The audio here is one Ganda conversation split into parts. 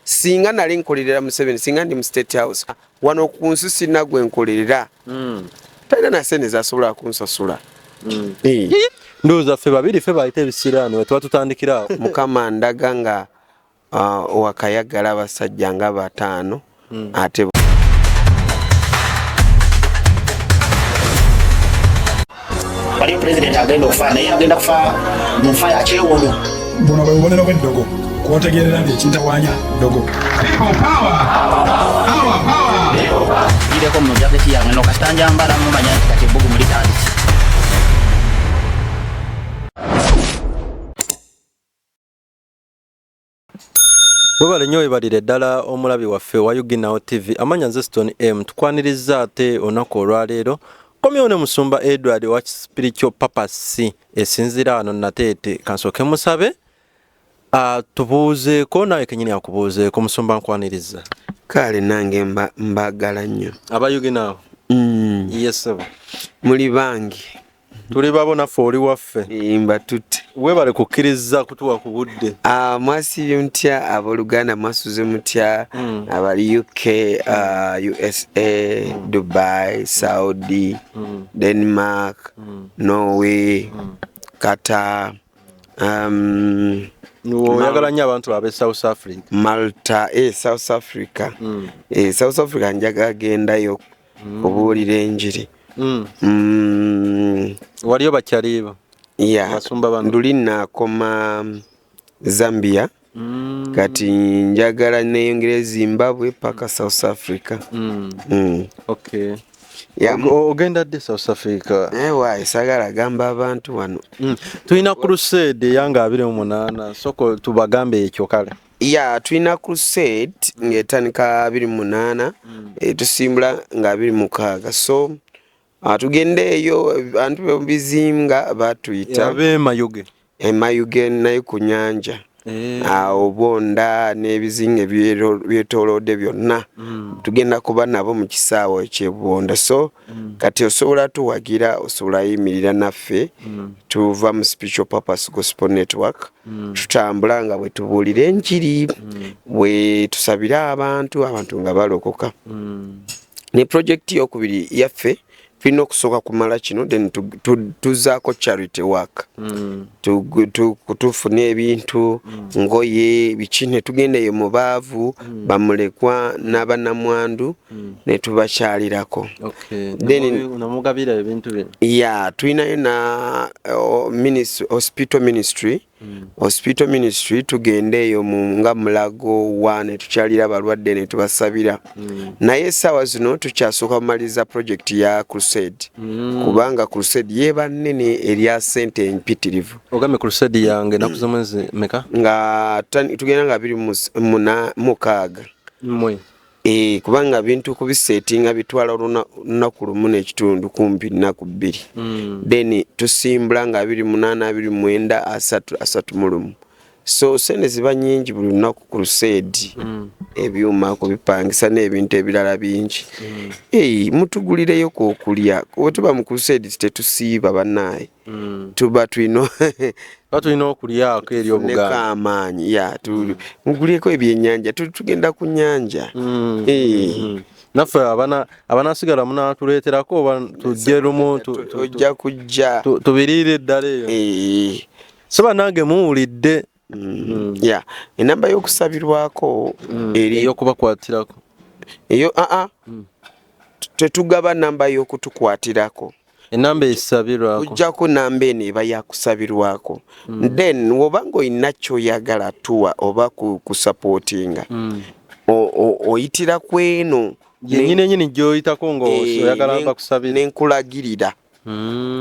singa nali nkolerera museveni singa ndi mu state house wano ku nsi sirina gwe nkolerera hmm. talina na sente zasobola kunsasula hmm. eh. ndowooza ffe babiri ffe bayita ebisiraani wetuba tutandikira mukama ndaga nga uh, wakayagala abasajja nga bataano hmm. ate waliyo pulezidenti agenda okufa naye agenda kufa mu nfa ya kyewono buno bwe bubonero bw'eddogo kwotegeerera nti ekintawanya ddogo gireko mu jaketi yange no kasita njambala mumanya nti kati ebbugumu litandise webale nnyo webalire ddala omulabi waffe wa uginawo tv amanya nze stone m tukwanirizza ate olunaku olwaleero komyewo ne musumba edward owa spiritual purpose esinzira wano nateete kansooke musabe tubuuzeeko nawe kenyini akubuuzeeko musumba nkwanirizza kale nange mbagala nnyo abayuginawo mm. yesebo muli bangi tuli babo naffe oli waffe mba tutte webale kukkiriza kutuwa ku budde ah, mwasibye mutya aboluganda mwasuze mutya hmm. abali uk ah, usa hmm. dubai saudi hmm. denmark norway qatar um, oyagala nnyo abantu babe south africa malta e south africa e south africa njaga gendayo kubuulira enjiri mm. mm. waliyo bakyaliiba ya nduli nakoma mm, zambia mm. kati njagala neyongera e zimbabwe paka south africa mm. Mm. Okay. ogenda ddi south africa ewa eh, esagala agamba abantu wano mm. tulina crusade eyanga abiri mu munaana soko tubagambe ekyo kale ya tulina crusade mm. ngaetandika abiri munaana mm. eh, tusimbula nga abiri mukaaga so ah, tugenda eyo abantu bebizinga batuyita emayuge eh, naye ku nyanja eh. ah, obonda n'ebizinga byetolode byonna mm. tugenda kuba nabo mu kisaawa ekyebonda so kati osobola tuwagira osobola yimirira naffe tuva mu special purpose gospel network Mm. tutambula nga bwe tubuulira enjiri mm. bwe tusabire abantu abantu nga balokoka mm. ne pulojekiti yokubiri yaffe tulina okusooka kumala kino then tuzaako charity work tufune ebintu ngoye biki ne tugenda eyo mu baavu bamulekwa n'abanamwandu mm. hmm. ne tubakyalirako ya tulinayo na hospital ministry hmm. hospital ministry tugenda eyo nga mulago wa ne tukyalira abalwadde ne tubasabira hmm. naye essaawa zino tukyasooka kumaliriza project ya crusade kubanga crusade yeba nnene erya sente empitirivu ogambe crusade yange naku zomwezi meka nga tugenda nga biri muna mukaaga Eh, kubanga bintu kubisetinga bitwala olunaku lumu nekitundu kumpi nnaku bbiri mm. then tusimbula nga abiri munaana abiri mwenda asatu asatu mulumu so sente ziba nyingi buli lunaku ku luseedi mm. ebyuma kubipangisa n'ebintu ebirala bingi mm. hey, mutugulireyo kokulya wetuba mu kuruseedi tetusiiba banaye mm. tuba tulina tuba tulina okulyako eri obuganda amaanyi ya mm. mugulyeko ebyenyanja tugenda ku nyanja mm. eh. mm-hmm. naffe abanasigala munatuleeterako oba tujje lumu ojja kujja tubiriire eddala eyo eh. so banange muwulidde Mm. ya enamba y'okusabirwako mm. eyokubakwatirako eyo aa ah, ah. mm. tetugaba namba y'okutukwatirako enamba esabirwako ojjako namba eno eba yakusabirwako then woba ngaolina kyoyagala tuwa oba kusapootinga oyitira ku eno yenyini enyini gyoyitako ngaoyagala eh, bakusabira nenkulagirira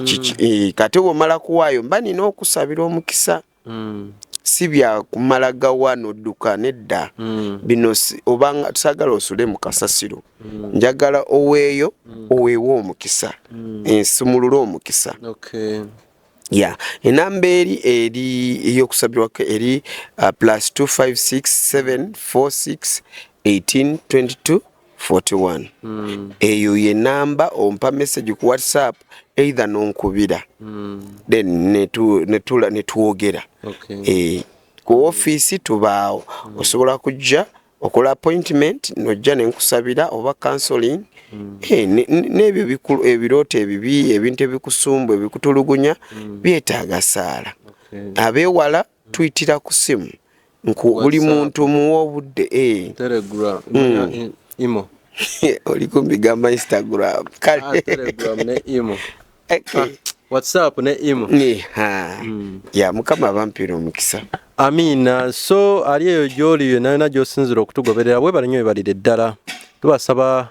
kiki eh, kati womala kuwaayo mba nina okusabira omukisa mm. si bya kumala gawa nodduka nedda mm. bino obanga tusagala osule mu kasasiro mm. njagala oweeyo mm. oweewo omukisa mm. ensumulule omukisa okay. ya enamba eri eri eyokusabirwako eri uh, plus 256746 1822 41 mm. eyo ye namba ompa message ku whatsapp either nonkubira mm. then netula netwogera okay. eh, ku office tubaawo mm. osobola kujja okola appointment nojja nenkusabira oba counseling mm. eh, n'ebyo ne, ne ebirooto ebibi ebintu ebikusumbu ebikutulugunya mm. byetaaga saala okay. abewala Tuyitira ku simu nku buli muntu muwa obudde eh. Telegram, mm. imo oli kumbigamba Instagram kale ah, Telegram ne imo okay. ah, WhatsApp ne imo ni ha mm. ya mukama abampira omukisa Amina so ali eyo gyoli yona yona gyosinzira okutugoberera webale nyo ebalire ddala tubasaba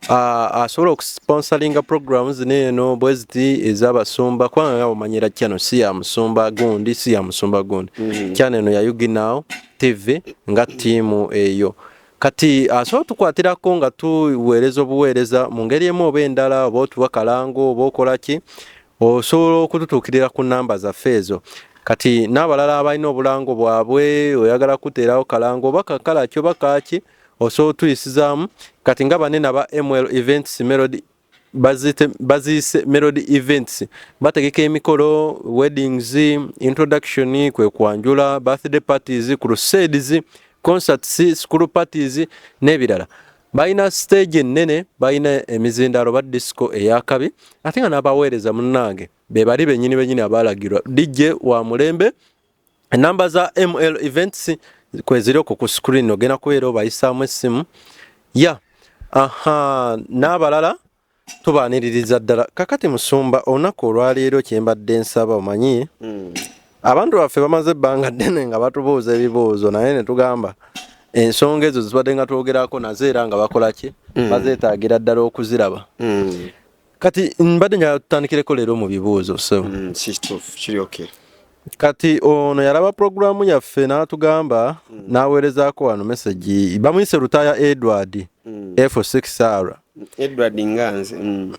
asobola okusponsoringa program zino eno bweziti ezabasumba kubanga nga bumanyira kyano si ya musumba gundi si ya musumba gundi mm. kyano eno ya uginaw tv nga tiimu eyo kati asobola tukwatirako nga tuweereza obuweereza mu ngeri emu oba endala oba otuwa kalango oba okola ki osobola okututuukirira ku namba zaffe ezo kati n'abalala abalina obulango bwabwe oyagala kuteerawo kalango oba kakalaki oba kaaki osobola otuyisizaamu kati nga banene aba ml events melody baziyise melody events bategeka emikolo weddings introduction kwe kwanjula birthday parties crusades concerts school parties n'ebirala balina stage ennene balina emizindaalo ba disco eyakabi ate nga n'abaweereza munnange be bali bennyini bennyini abaalagirwa dijje wa mulembe enamba za ml events kweziri okwo ku screen ogenda kubeera obayisaamu essimu ya aha n'abalala tubaaniririza ddala kakati musumba olunaku olwaleero kyembadde nsaba omanyi hmm. abantu baffe bamaze ebbanga ddene nga batubuuza ebibuuzo naye ne tugamba ensonga ezo zibadde nga twogerako nazo era nga bakola ki hmm. bazeetaagira ddala okuziraba hmm. kati mbadde njagala tutandikireko leero mu bibuuzo so mm, kiri okay kati ono yalaba pulogulaamu yaffe n'atugamba mm. n'aweerezaako wano mesegi bamuyise lutaaya edward mm. f6 sara edward nganze mm.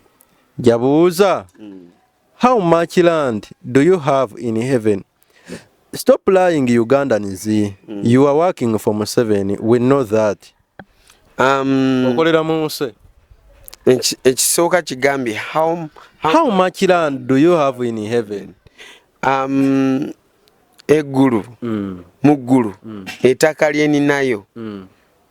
jabuuza mm. how much land do you have in heaven Stop lying Ugandans. Mm. You are working for Museveni. We know that. Um, Okolera munse. Ekisooka kigambye how, how, how much land do you have in heaven? Um, eggulu mm. mu ggulu mm. etaka lyeninayo mm.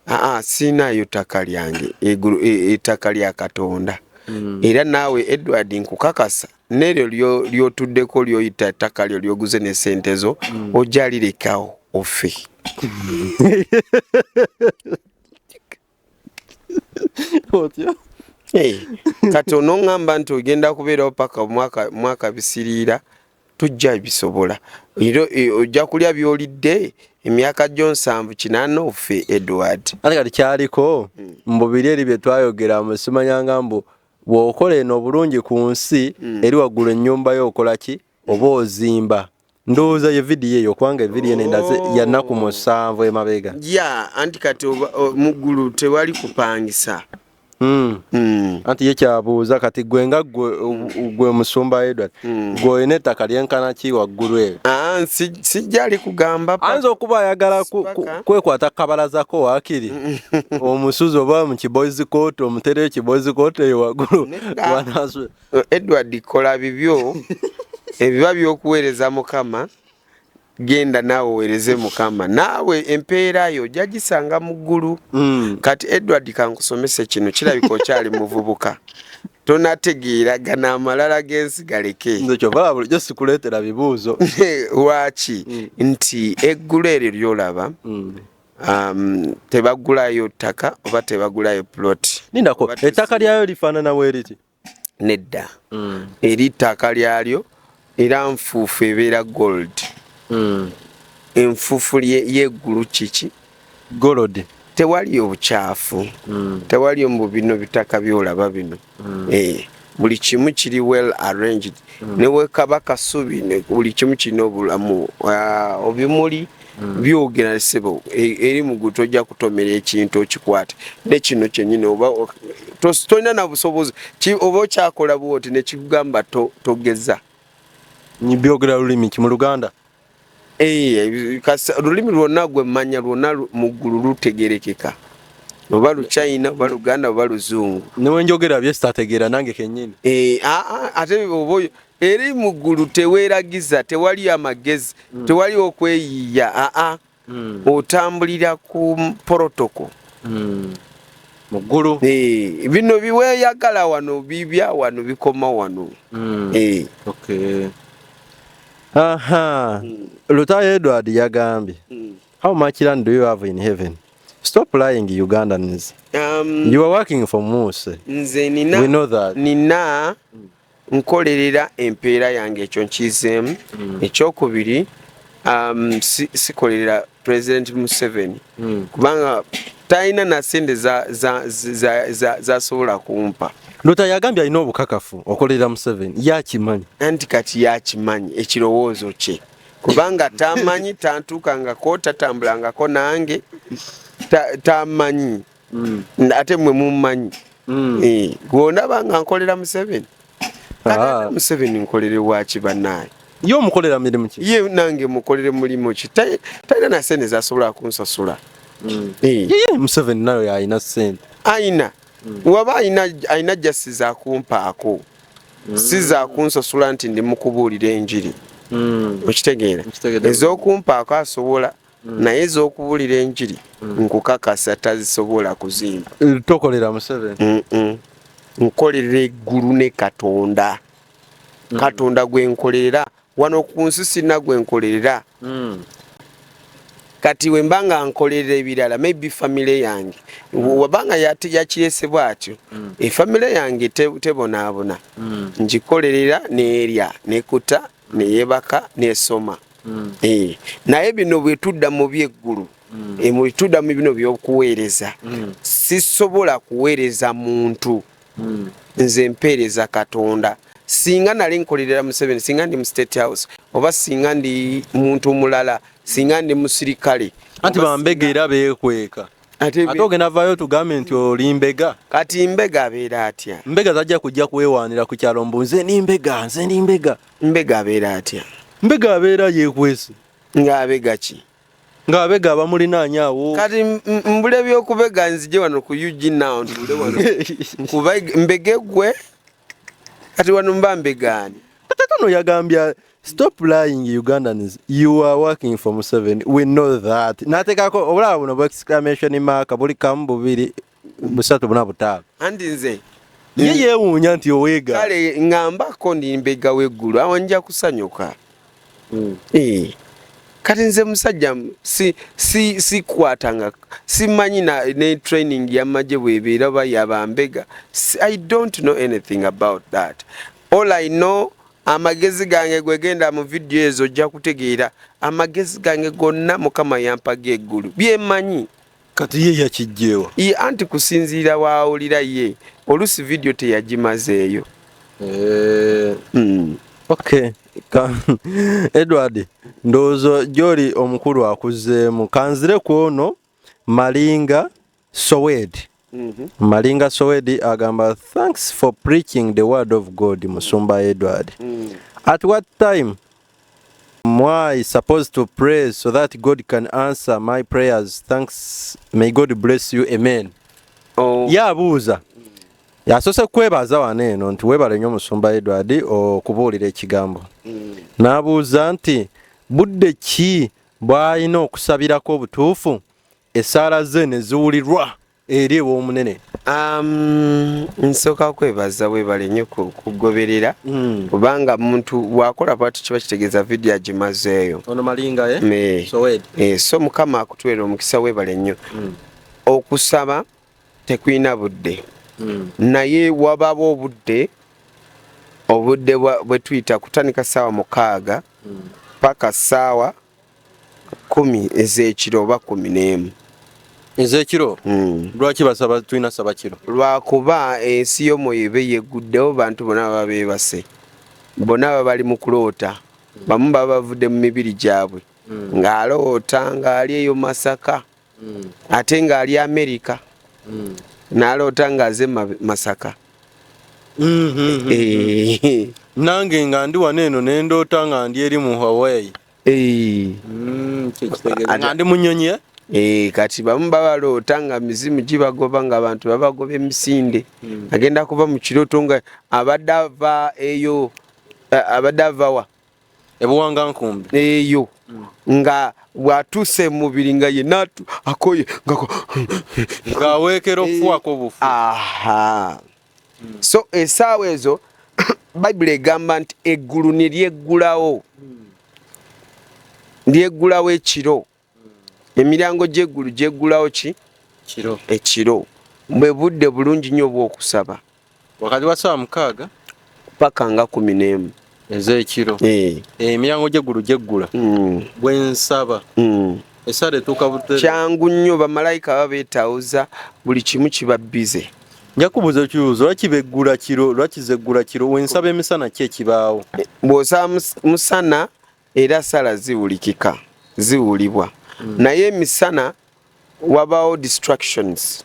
aa siinaayo ttaka lyange egulu e, ettaka lya katonda mm. era naawe edward nkukakasa neryo lyotuddeko lyoyita ettaka lyo lyoguze ne sente zo mm. ojja lirekawo ofe otya kati onoŋŋamba nti ogenda kubeerawo paka mwaka bisiriira tujja bisobola e, ojja kulya byolidde emyaka gyo nsanvu kinana ofe edward ate kati kyaliko hmm. mubiri eri byetwayogera musimanyanga mbu bwokola eno obulungi ku nsi hmm. eri waggulu ennyumba yo okola ki oba ozimba ndowooza ye vidiyo eyo kubanga evidiyo eno endaze oh. yanaku musanvu emabega ya anti kati muggulu tewali kupangisa Hmm. Hmm. anti ye kyabuuza kati gwe nga gwe musumba edward hmm. gwe olina ettaka lyenkana ki waggulu eyo ah, sijja ali kugamba ayinza okuba ayagala kwekwata kabalazako wakiri omusuzi oba mu kibozi kooti omutereyo kibozi kooti eyo waggulu edward kola bibyo ebiba byokuweereza mukama genda naawe owereze mukama naawe empeera yo ojja gisanga mu ggulu mm. kati edward kankusomese kino kirabika okyali muvubuka tonategeera gana amalala g'ensi galeke kyovala bulijjo sikuleetera bibuuzo lwaki mm. nti eggulu eryo lyolaba mm. um, tebagulayo ttaka oba tebagulayo plot nindako ettaka lyayo lifaanana weeriti nedda mm. eri ttaka lyalyo era nfuufu ebeera gold mm. enfuufu yeggulu kiki golod tewali obukyafu mm. tewali mbu bino bitaka byolaba bino mm. eh, buli kimu kiri well arranged mm. newekaba kasubi buli kimu kirina obulamu uh, obimuli hmm. byogera sebo e, eri mugu tojja kutomera ekintu okikwate nekino kyenyini oba tolina nabusobozi oba okyakola bwoti nekikugamba togeza byogera lulimi ki mu luganda eh, lulimi lwonna gwemmanya lwonna muggulu lutegerekeka oba luchina oba luganda oba luzungu newenjogera byesitategeera nange kenyini eh, ate oba Eri mu ggulu teweeragiza, tewali amagezi, mm. tewali okweyiiya, aa mm. otambulira ku protoko mm. mu ggulu. Eh, bino biweeyagala wano bibya wano bikoma wano. Mm. Eh. Okay. Aha. Mm. Lutayo Edward yagambye. Mm. How much land do you have in heaven? Stop lying Ugandans. Um, you are working for Muse. Nze nina. We know that. Nina. Mm. nkolerera empeera yange ekyo nkizeemu mm. ekyokubiri um, sikolerera si president museveni mm. kubanga talina nasente zasobola kumpa lota yagambye alina obukakafu okolerera museveni yakimanyi anti kati yakimanyi ekirowoozo kye kubanga tamanyi tantuukangako tatambulangako nange tamanyi ta mm. ate mwe mummanyi mm. eh, gwondaba nga nkolera museveni ah. museveni nkolere waki banaye ye omukolera mirimu ki ye nange mukolere mulimu ki talina na sente zasobola kunsasula mm. eh. museveni nayo yalina sente ayina waba alina jasi zakumpaako si zakunsasula nti ndi mukubuulira enjiri okitegeera ezokumpaako asobola mm. naye ez'okubulira enjiri mm. nkukakasa tazisobola kuzimba eh, tokolera museveni nkolera eggulu ne katonda mm. katonda gwe nkolerera wano ku nsi sirina gwe nkolerera kati wemba nga nkolerera ebirala maybe famile yange wabanga yakirese bwatyo efamile yange tebonaabona ngikolerera neerya nekuta neyebaka nesoma mm. e, naye bino bwetudda mu byeggulu mm. e, mwetudda mu bino byokuweereza mm. sisobola kuweereza muntu mm. nze mpeereza katonda singa nali nkolerera museveni singa ndi mu state house oba singa ndi muntu mulala singa ndi musirikale anti bambega era bekweka ate ogenda vayo tugambe nti oli mbega kati mbega abeera atya mbega zajja kujja kwewaanira ku kyalo mbu nze ni mbega nze ni mbega mbega abeera atya mbega abeera yekwese ng'abega ki ng'abega abamulinaanya awo kati mbula ebyokubega nzije wano ku ug now ntuule wano mbege gwe kati wano mba mbegaani katakano yagambye stop lying ugandans you are working for museven we know that natekako obulaba buno bu exclamation mark buli kamu bubiri busatu buna butaano anti nze ye yewuunya nti oweega kale ngambako ndi mbega weggulu awo nja kusanyuka mm. e, kati nze musajja si, si, sikwatanga simanyi na, ne training yamagye bwebeera oba yabambega i don't know anything about that all i know amagezi gange gwegenda mu vidiyo ezo ojja kutegeera amagezi gange gonna mukama yampaga eggulu byemanyi kati ye yakijjeewa ye anti kusinziira waawulira ye oluusi vidiyo teyagimazeeyo eh. hmm. ok edward ndowooza gyoli omukulu akuzzeemu kanzire ku ono malinga sowed mhm. malinga sowed agamba thanks for preaching the word of god musumba edward mm. at what time Mwai supposed to pray so that God can answer my prayers. Thanks. May God bless you. Amen. Oh. Yabuuza. Yasose kwebaza wano eno nti webale nnyo musumba Edward okubuulira ekigambo. Mm. N'abuuza nti budde ki bw'alina okusabirako obutuufu essaala ze ne ziwulirwa eri ew'omunene um, nsooka kwebaza webale nnyo kugoberera hmm. kubanga muntu bwakola bwatu kiba kitegeeza vidiyo agimazeeyo eh? so, eh, so mukama akutwera omukisa webale nnyo hmm. okusaba tekulina budde hmm. naye wabawo obudde obudde bwetuyita kutandika saawa mukaaga paka saawa kumi ezekiro oba kumi n'emu ezekiro hmm. lwaki basaba tulina saba kiro lwakuba ensi yo mweyobe yeguddewo bantu bona baba bebase bona baba bali mu kuloota bamu baba bavudde mu mibiri gyabwe hmm. ng'aloota ng'ali eyo masaka hmm. ate ng'ali amerika naloota ng'aze masaka eh. nange nga ndi wano eno nendoota nga ndi eri mu hawaii Mm, nga ndi munyonyi eh? Eh, kati bamu babaloota nga mizimu gibagoba nga abantu babagoba emisinde hmm. agenda kuba mu kirooto nga abadde ava eyo eh, abadde avawa ebuwanga nkumbi eyo hmm. nga bwatuuse mumubiri nga yenna akoye ngaweekera okufuwako obufu hmm. so esaawa ezo bayibuli egamba nti eggulu ne lyeggulawo hmm. lyeggulawo ekiro hmm. emiryango gy'eggulu gyeggulawo ki ekiro bwe budde bulungi nnyo obw'okusaba wakati wa saawa mukaaga paka nga kumi n'emu ez'ekiro eh. Eh, emiryango gy'eggulu gyeggula hmm. bwe nsaba hmm. esaala etuuka bute kyangu nnyo bamalayika baba beetawuza buli kimu kiba bize nja kubuuza ekibuuzo lwaki beggula kiro lwaki zeggula kiro we nsaba emisana ki ekibaawo bw'osaba musana era sala ziwulikika ziwulibwa mm. naye emisana wabaawo distractions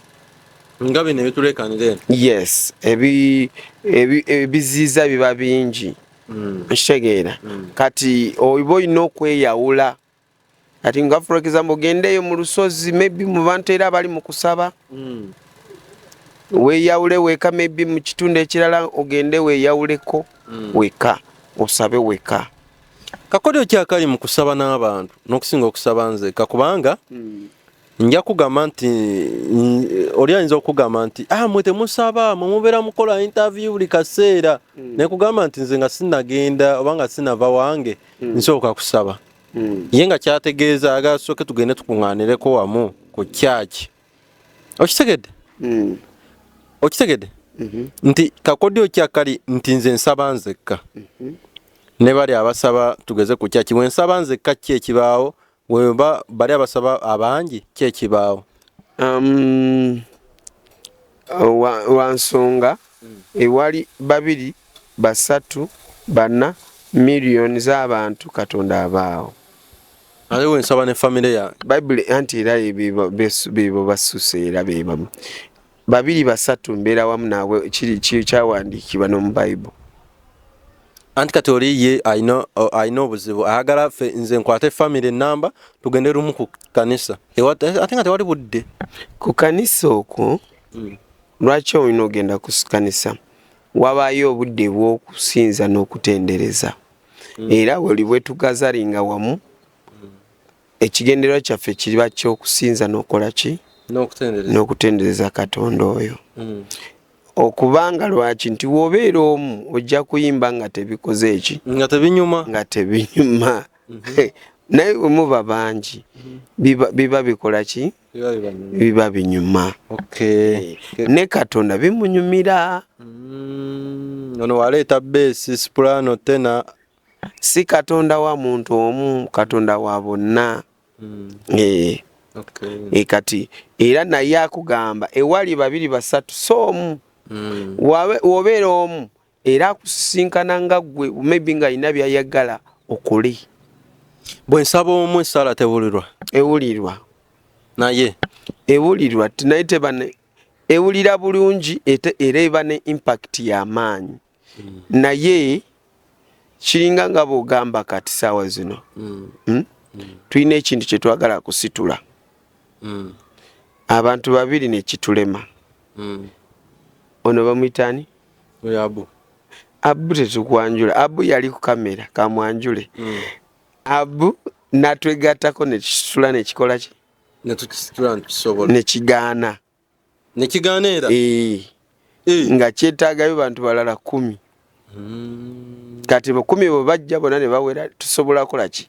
nga bino ebitulekanira eno yes ebiziiza ebi, biba bingi mm. nkitegeera mm. kati oba olina okweyawula kati nga for example gendeeyo mu lusozi maybe mu bantu era abali mu kusaba mm. weyawule weka maybe mu kitundu ekirala ogende weyawuleko mm. weka osabe weka kakodyo kyakali mu kusaba n'abantu n'okusinga okusaba nzeka kubanga mm. nja kugamba nti oli ayinza okugamba nti ah, mwe temusaba mwe mubeera mukola interview buli kaseera mm. nekugamba nti nze nga sinagenda oba nga sinava wange mm. nsooka kusaba hmm. ye nga kyategeeza aga sooke tugende tukuŋŋaanireko wamu ku kyaki okitegedde hmm. okitegedde mhm. nti kakodyo kyakali nti nze nsaba nzekka mhm. ne bali abasaba tugeze ku kyaki bwe nsaba nzekka ki ekibaawo weba bali abasaba abangi ki ekibaawo um, wansonga ewali babiri basatu bana million zabantu katonda abaawo aliwo nsaba ne family ya bible anti era bebo basuse era bebamu babiri basatu mbeera wamu naabwe kiri kyawandiikibwa nomu bible anti kati oli ye alina obuzibu ayagala fe nze nkwate famiry enamba tugende lumu ku kanisa ate nga tewali budde ku kanisa okwo hmm. lwaki olina ogenda ku kanisa wabaayo obudde bw'okusinza n'okutendereza hmm. era weli bwetugazalinga wamu ekigendererwa kyaffe kiba kyokusinza nokola ki nokutendereza katonda oyo mm. okubanga lwaki nti wobeera omu ojja kuyimba nga tebikoze eki nga tebinyuma nga tebinyuma mm -hmm. naye wemuba bangi mm -hmm. biba bikola ki biba binyuma okay. Eh, ne katonda bimunyumira mm. ono waleeta besi sprano tena si katonda wa muntu omu katonda wa bonna mm. e, okay. e kati era naye akugamba ewali babiri basatu si omu mm. wobeera omu era akusisinkana nga gwe maybe nga alina byayagala okole bwe nsaba omu esaala tewulirwa ewulirwa naye ewulirwa naye tebane ewulira bulungi era eba ne impact y'amaanyi mm. naye kiringa nga bwogamba kati saawa zino mm. Hmm? Mm. tulina ekintu kyetwagala kusitula mm. abantu babiri nekitulema mm. ono bamwitani abu abu tetukwanjula abu yali ku kamera kamwanjule mm. abu natwegatako nekisitula nekikolaki nekigaana ne nekigaana era ee eh. Eh. nga kyetaagayo bantu balala kumi hmm. kati bukumi bwe bajja bona ne bawera tusobola kola ki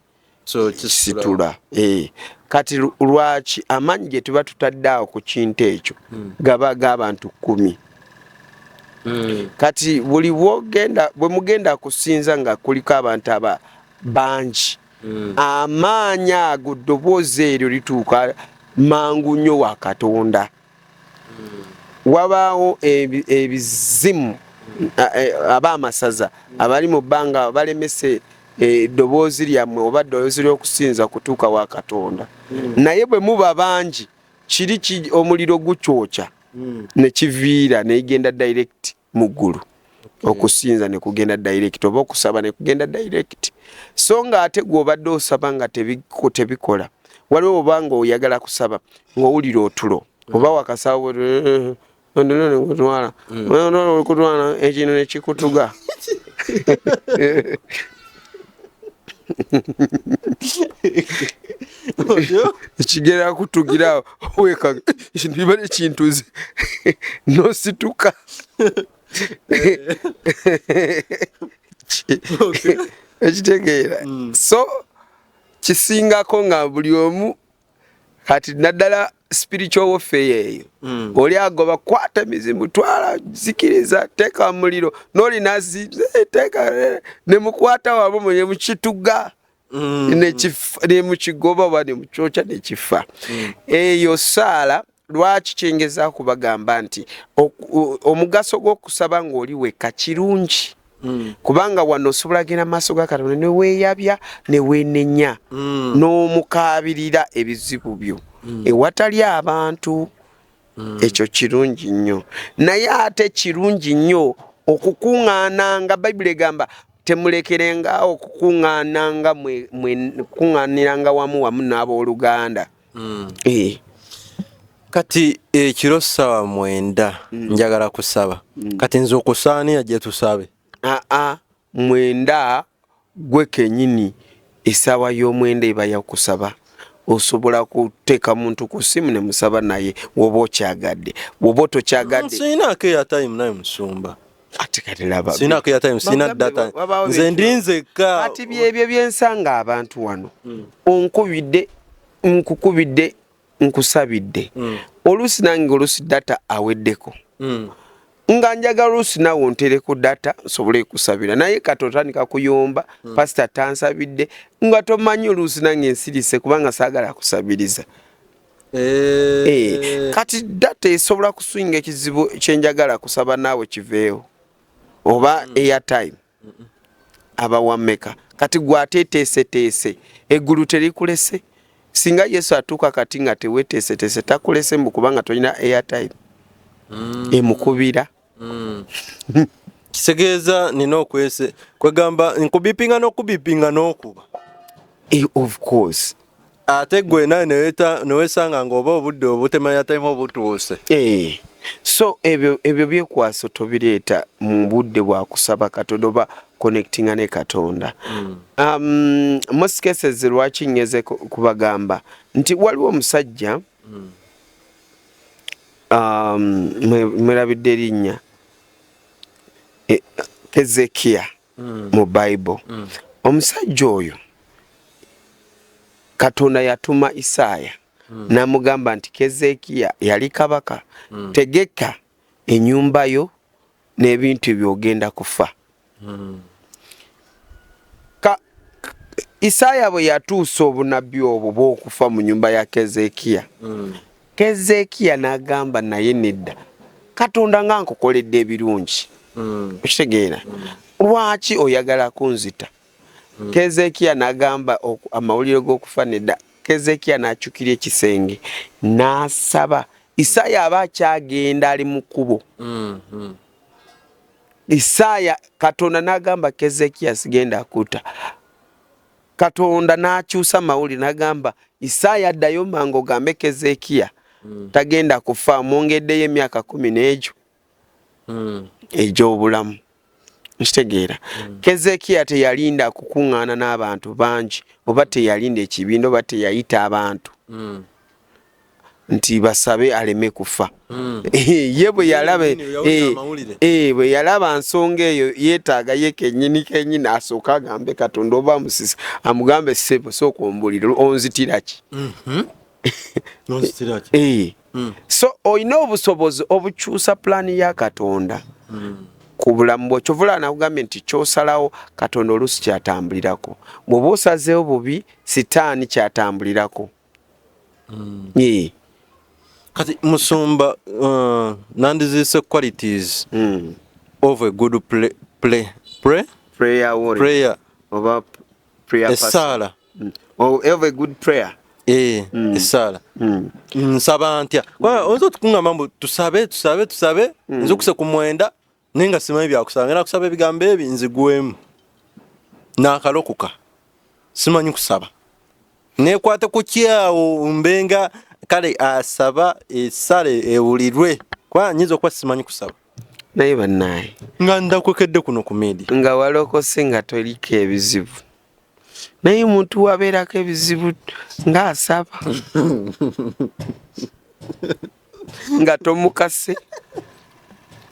kisitula eh. kati lwaki amaanyi ge tuba tutadde awo ku kintu ekyo hmm. gaba g'abantu kumi hmm. kati buli bwogenda bwe mugenda kusinza nga kuliko abantu aba bangi mm. amaanyi ago ddoboozi eryo lituuka mangu nnyo wa katonda mm. wabaawo ebizimu eh, aba amasaza abali mu bbanga balemese eh, eddoboozi lyammwe oba ddoboozi ly'okusinza kutuuka wa katonda mm. naye bwe muba bangi kiri omuliro gukyokya nekiviira negenda direct mu ggulu hmm. okusinza ne kugenda direct oba okusaba ne kugenda direct so nga ate gw'obadde osaba nga tebikola waliwo oba nga oyagala kusaba ng'owulira otulo hmm. oba wakasawo hmm. ekino nekikutuga ekigera akutugira weka ekintu kiba nekintuzi nosituka ekitegeera mm. so kisingako nga buli omu kati naddala spiritual warfare eyo mm. oli agoba kwata mizimu twala zikiriza teka muliro noli nazi eh, teka eh, ne mukwata wabo mwenye mukituga mm. ne kifa ne mukigoba bani muchocha ne kifa mm. eyo sala lwaki kyengeza kubagamba nti omugaso gw'okusaba ng'oli wekka kirungi Mm. kubanga wano osobola genda maaso ga katonda neweyabya newenenya mm. n'omukaabirira ebizibu byo mm. ewatali abantu mm. ekyo kirungi nnyo naye ate kirungi nnyo okukuŋŋaana nga bayibuli egamba temulekerenga okukuŋŋaana nga mwekuŋŋaaniranga wamu wamu n'abooluganda mm. eh. kati ekiro sawa mwenda mm. njagala kusaba mm. kati nze okusaaniya gye tusabe aa ah, ah, mwenda gwe kenyini esaawa y'omwenda eba yakusaba osobola kuteeka muntu ku simu ne musaba naye woba okyagadde woba tokyagadde sirinaako eya time naye musumba ati kati laba sina kuya time sina data nze ndinze ka ati byebyo byensanga abantu wano mm. onkubidde nkukubidde nkusabidde mm. olusi nange olusi data aweddeko mm. nga njagala olusi nawe ontereko data nsobole kusabira naye kati otandika kuyomba mm. pasita tansabidde nga tomanyi olusi nange nsirise kubanga sagala kusabiriza Eh. Eh, kati data esobola kuswinga ekizibu kyenjagala kusaba naawe kiveewo oba mm. airtime abawameka kati gwateteeseteese eggulu terikulese singa yesu atuuka kati nga teweteeseteese takulese mbu kubanga tolina airtime mm. emukubira mm. kitegeeza nina okwese kwegamba nkubipinga n'okubipinga n'okuba eh, of course ate gwe nawe newesanga ngaoba obudde obutemanya time obutuuse eh, so ebyo ebyo byekwaso tobireeta mu budde bwa kusaba katonda oba connectinga ne katonda mm. um, most cases lwaki nyeze kubagamba nti waliwo omusajja mm. Um, mwerabidde erinnya e, kezekiya mm. mu bible mm. omusajja oyo katonda yatuma isaaya mm. namugamba nti kezekiya yali kabaka mm. tegeka enyumba yo nebintu ebyo ogenda kufa hmm. isaaya bwe yatuusa obunabbi obwo bwokufa mu nyumba ya kezekiya hmm. kezekiya nagamba naye nedda katonda nga nkukoledde ebirungi hmm. okitegeera lwaki oyagala kunzita Hmm. Kezekia nagamba amawulire g'okufa nedda. Kezekia n'akyukira ekisenge n'asaba. Isaaya aba akyagenda ali mu kkubo. Hmm, hmm. Isaaya Katonda n'agamba Kezekia sigenda akuta. Katonda n'akyusa amawulire n'agamba Isaaya addayo mangu ogambe Kezekia tagenda kufa mwongeddeyo emyaka kumi n'egyo. hmm. egy'obulamu nkitegeera hmm. kezekiya teyalinda kukuŋŋaana n'abantu bangi oba teyalinda ekibiina oba teyayita abantu hmm. nti basabe aleme kufa eh, ye bwe yalaba eh, eh, bwe yalaba nsonga eyo yeetaaga ye kenyini kenyini asooke agambe katonda oba amusisa amugambe sebo sooka ombulire onzitiraki mhm. mm. so olina obusobozi obukyusa pulaani ya katonda mm. ku bulamu bwo kyovula nakugambye nti kyosalawo katonda oluusi kyatambulirako bwoba osazeewo bubi sitaani kyatambulirako mm. yeah. kati musumba uh, nandiziise qualities mm. of a good play, play, play, prayer, prayer. oba prayer person. Esala. Mm. Oh, have a good prayer. Eh, mm. esala. Mm. Nsaba ntya. Kwa mm. ozo tukunga mambo tusabe tusabe tusabe mm. nzo kuse kumwenda ninga sima ebya kusanga na kusabe bigambe ebi nzigwemu. Na kalokuka. Sima nyi kusaba. Ne kwate kukia umbenga kale asaba esale ewulirwe. Kwa nyizo kwa sima nyi kusaba. naye banaye nga ndakwekedde kuno ku media nga walokose nga toliko ebizibu naye omuntu wabeerako ebizibu ng'asaba nga tomukase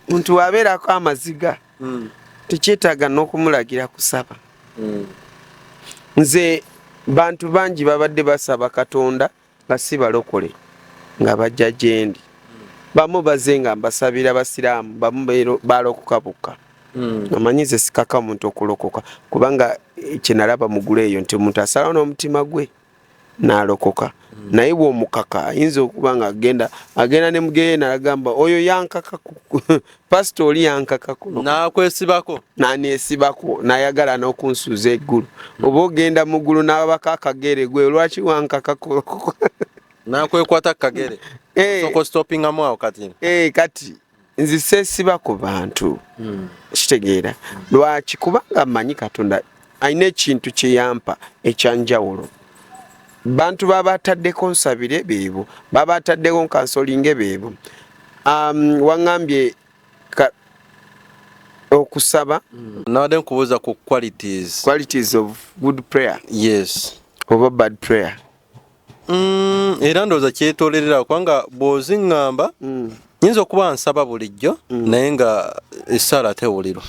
omuntu wabeerako amaziga hmm. tekyetaaga n'okumulagira kusaba hmm. nze bantu bangi babadde basaba katonda nga si balokole nga bajja gyendi bamu baze nga mbasabira basiraamu bamu balokoka bokka hmm. amanyi ze sikaka omuntu okulokoka kubanga eh, kyenalaba mugulu eyo nti omuntu asalawo n'omutima gwe nalokoka hmm. naye bwomukaka ayinza okuba nga agenda agenda ne mugeyeena agamba oyo yankaka pasita oli yankaka kuno nakwesibako nanesibako nayagala nokunsuuza eggulu oba ogenda mu ggulu nababako akagere gwe lwaki wankaka kuno nakwekwata kukagere eh. okostopingamu awo kati eh, kati nzi sesiba ku bantu hmm. kitegeera lwaki kubanga manyi katonda alina ekintu kye yampa ekyanjawulo bantu baba ataddeko nsabire beebo baba ataddeko nkansolinge beebo um, waŋambye okusaba mm. nabadde nkubuuza ku qualities qualities of good prayer yes oba bad prayer Mm, era ndowooza kyetolerera kubanga bw'oziŋŋamba mm. nyinza okuba nsaba bulijjo mm. naye nga esaala tewulirwa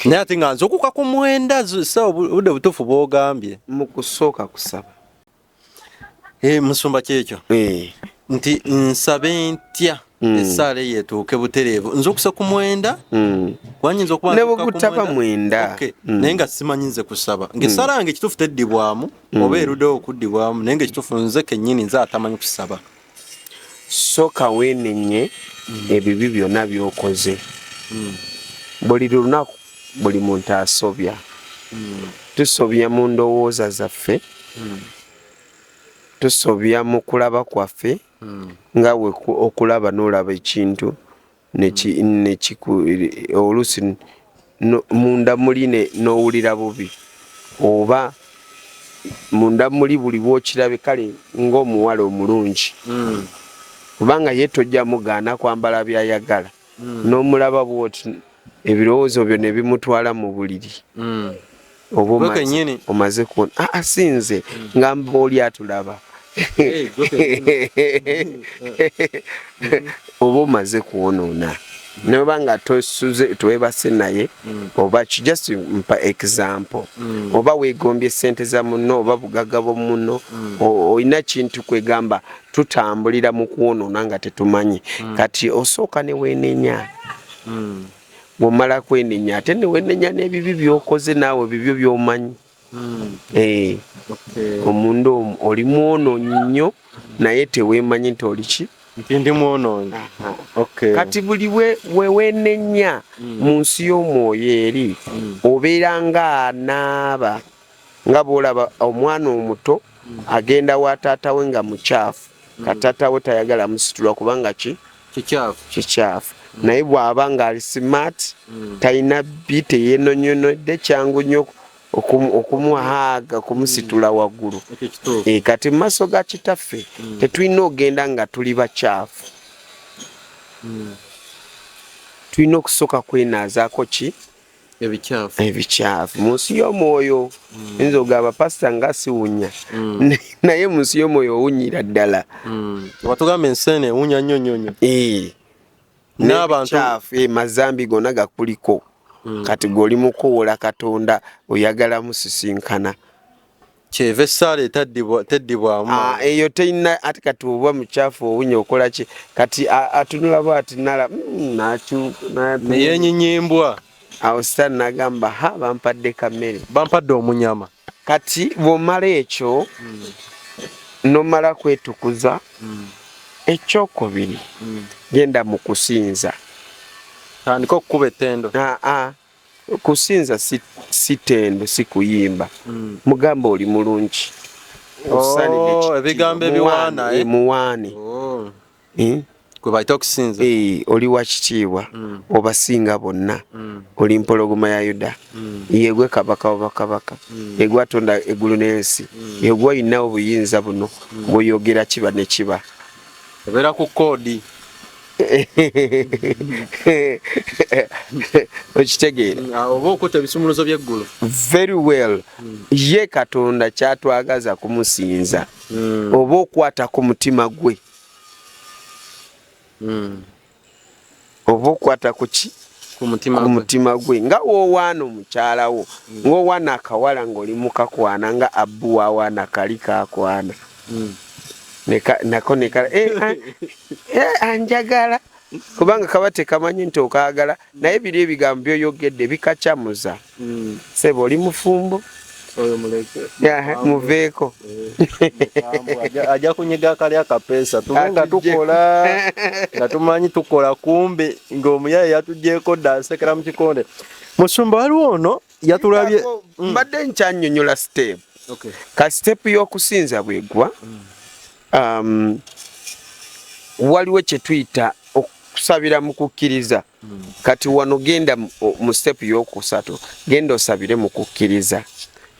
naye ate nga nzukuka ku mwenda sa obudde butuufu bwogambye mu kusooka kusaba eh, musumba kyekyo eh. nti nsabe ntya mm. essaala eyo etuuke butereevu nze okusa ku mwenda mm. wanyinza okuba ne bwegutaba mwenda okay. mm. naye nga simanyi nze kusaba mm. ngaessaala yange ekituufu teddibwamu mm. oba erudewo okuddibwamu naye nga ekituufu nze kennyini nze atamanyi kusaba sooka weenenye mm. ebibi byonna byokoze mm. buli lunaku buli muntu asobya mm. tusobya mu ndowooza zaffe mm. tusobya mu kulaba kwaffe mm. hmm. nga we okulaba n'olaba ekintu nekiku oluusi munda muli n'owulira bubi oba munda muli buli bwokirabe kale ng'omuwala omulungi hmm. kubanga ye tojja mugaana kwambala byayagala mm. n'omulaba bwoti ebirowoozo byo ne bimutwala mu buliri mm. oba omaze kuona ah, ah, sinze mm. ngamba oli atulaba oba omaze kwonoona noba nga tosuze twebase naye mm. oba just mpa example mm. oba wegombye sente za muno oba bugaga bwo muno mm. olina kintu kwegamba tutambulira mu kwonoona nga tetumanyi mm. kati osooka ne weenenya mm. bwomala kwenenya ate ne weenenya n'ebibi byokoze naawe bibyo byomanyi mm. eh. omunda omu oli mwonoonyi nnyo naye teweemanyi nti oli ki nti ndi mwonoonyi kati buli weweenenya mm. mu nsi y'omwoyo eri mm. obeera ng'anaaba nga bwolaba omwana omuto agenda wa taata we nga mukyafu ka taata we tayagala musitula kubanga ki kikyafu naye bwaba nga ali smart mm. talina bbi teyenonyonodde kyangu nyo okumuhaaga okumusitula mm. waggulu e, kati mu maaso ga kitaffe mm. tetulina ogenda nga tuli bakyafu tulina okusooka kwenaazako ki ebikyafu ebikyafu mu nsi y'omwoyo mm. nze ogamba pasita nga siwunya mm. naye mu nsi y'omwoyo owunyira ddala mm. watugamba enseene ewunya nnyo nnyo nnyo eh. n'abantu eh, mazambi gona gakuliko kati goli mukuwola katonda oyagala musisinkana kyeva essaala teddibwamu ah, eyo teyina ati kati oba mukyafu owunya okola ki kati atunula bwati nala mm, nayenyinyembwa awo sitaani nagamba ha bampadde kamere bampadde omunyama kati bwomala ekyo mm. nomala kwetukuza mm. ekyokubiri mm. genda mukusinza tandika okukuba etendo ah, ah. Kusinza si, si tendo si kuyimba mm. Mugamba oli mulungi oh, ebigambo ebiwaana eh? muwaane oh. eh? gwebaita okusinza eh, oli wakitiibwa mm. obasinga bonna mm. oli mpologoma ya yuda mm. yegwe kabaka wabakabaka mm. yegwe atonda eggulu n'ensi mm. yegwe olina obuyinza buno mm. bweyogera kiba ne kiba obeera ku koodi okitegeera mm, oba okuta ebisumuluzo byeggulu very well mm. ye katonda kyatwagaza kumusinza mm. oba okwata ku mutima gwe oba okwata kuki ku mutima gwe nga wowaana omukyala wo ngaowaana akawala ngaoli mukakwana nga abbu wawaana kali kakwana mm. nako nekala eh, ah, eh, anjagala kubanga kaba tekamanyi nti okaagala naye biri ebigambo byoyogedde bikacamuza mm. sebo oli mufumbo muveeko eh, ajja kunyiga kali akapeesa tube nga tukola nga tumanyi tukola kumbi ng'omuyaye yatugyeko dda asekera mu kikonde musumba waliwo ono yatulabye mm. mbadde nkyanyonyola step ka step y'okusinza bwegwa mm. um, waliwo kyetuyita okusabira mu kukkiriza mm. kati wano genda mu step y'okusatu genda osabire mu kukkiriza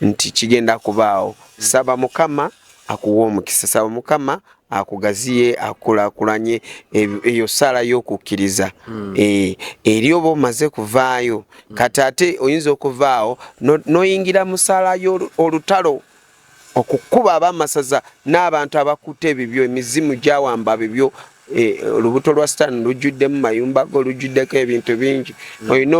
nti kigenda kubaawo saba mukama akuwa omukisa saba mukama akugaziye akulakulanye eyo sala yokukiriza hmm. eh, eri oba omaze kuvaayo hmm. kati ate oyinza okuvaawo noyingira musala yo olutalo okukuba abamasaza n'abantu abakuta ebibyo emizimu gyawamba bibyo eh, olubuto lwa sitaani lujjuddemu mayumba go lujjuddeko ebintu bingi hmm. olina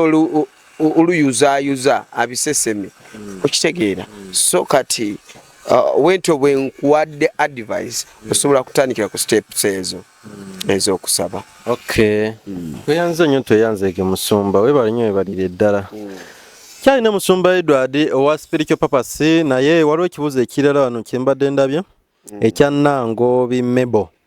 oluyuzaayuza abiseseme mm. okitegeera mm. so kati uh, wentyo bwe nkuwadde advise mm. osobola kutandikira ku steps ezo ez'okusaba weyanze nnyo tweyanzeeke musumba webale nnyo webalire eddala kyalina musumba edward owa spiritual papasi naye waliwo ekibuuzo ekirala wano kyembadde ndabye ekya nangobi mebo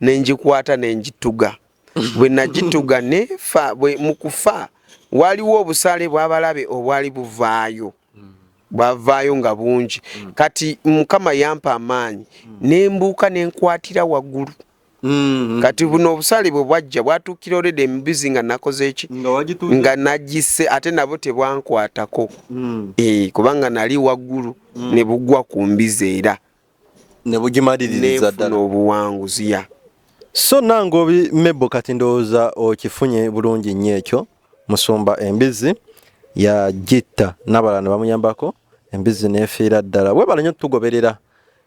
ne ngikwata ne ngituga bwe nagituga nefa mu kufa waliwo obusaale bw'abalabe obwali buvaayo bwavaayo nga bungi mm. kati mukama yampa amaanyi mm. nembuuka nenkwatira waggulu mm-hmm. kati buno obusaale bwe bwajja bwatuukira olede embizi nga nakoze eki nga nagise ate nabo tebwankwatako mm. eh, kubanga nali waggulu ne bugwa ku mbizi era nebufuna obuwanguzi ya so nange obi mebo kati ndowooza okifunye bulungi nnyo ekyo musumba embizi yagitta nabalala nebamuyambako embizi nefiira ddala webala nnyo tugoberera